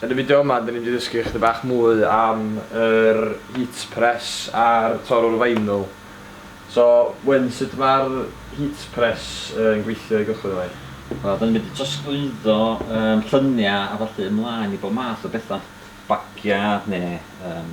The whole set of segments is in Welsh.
Yn y fideo yma dyn ni mynd i ddysgu ychydig bach mwy am yr heat press a'r torrwr vinyl. So Wyn sut ma'r heat press yn gweithio i gychwyn efo hi? Wel dyn ni mynd i trosglwyddo yym llynia a ballu ymlaen i bob math o betha, bagia ne yym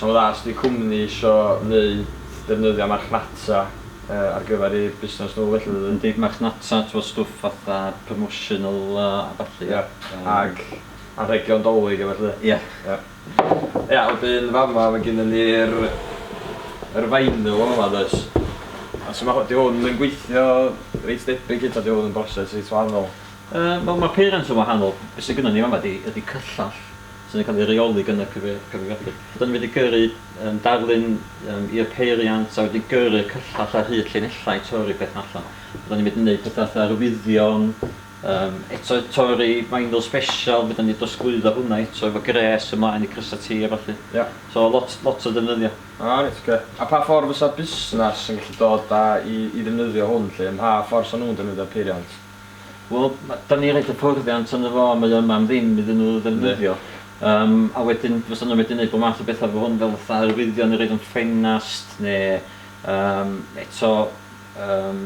Sa'n dda os ydi cwmni isio neud defnyddio marchnata ar gyfer eu busnes nhw felly dydi? Yndi, marchnata t'mod stwff fatha promotional a ballu. Ia, ag anrhegion Dolig a ballu. Ia. Ia. Ia, wedyn fama ma' gynnon ni'r yr vinyl fama does? A su' ma' hw- 'di hwn yn gweithio reit debyg hyd ta 'di hwn yn broses reit wahanol? Yy wel ma'r peiriant yn wahanol, be' sy gynnon ni fama 'di ydi cyllall sydd yn cael ei reoli gan y cyfrifiadur. Rydyn ni wedi gyrru darlun i'r peiriant a wedi gyrru'r cyllell ar hyd llinellau torri peth allan. Rydyn ni'n mynd i wneud pethau fatha arwyddion, um, eto torri vinyl special, rydyn ni'n drosglwyddo hwnna eto efo gres ymlaen i crysau ti a falle. Yeah. So lot, lot o ddefnyddio. Ah, reit, okay. A pa ffordd fysa busnes yn gallu dod a i, i ddefnyddio hwn lle? Ym mha ffordd sy'n nhw'n defnyddio'r peiriant? Wel, ma- 'dan ni roid hyfforddiant arno fo a mae o yma am ddim iddyn nhw ddefnyddio. Yndi. Yym, a wedyn fysa nhw'n medru neud bob math o betha efo hwn fel fatha arwyddion i roid yn ffenast ne' yym eto yym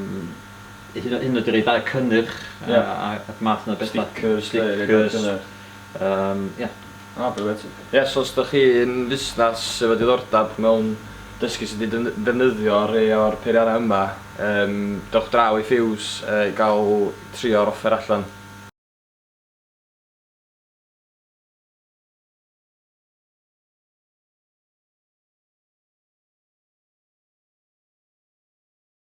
hyd yn hyd yn oed i roid ar cynnyrch a Ie. a ac math 'na o betha. Stickers ne' rwbeth fel 'a. Stickers. Yym, ia. O brilliant. Ie so os dych chi'n fusnes sy efo diddordeb mewn dysgu sut i dyn- defnyddio rhei o'r peiriannau yma yym dewch draw i Fuse yy i gael trio'r offer allan.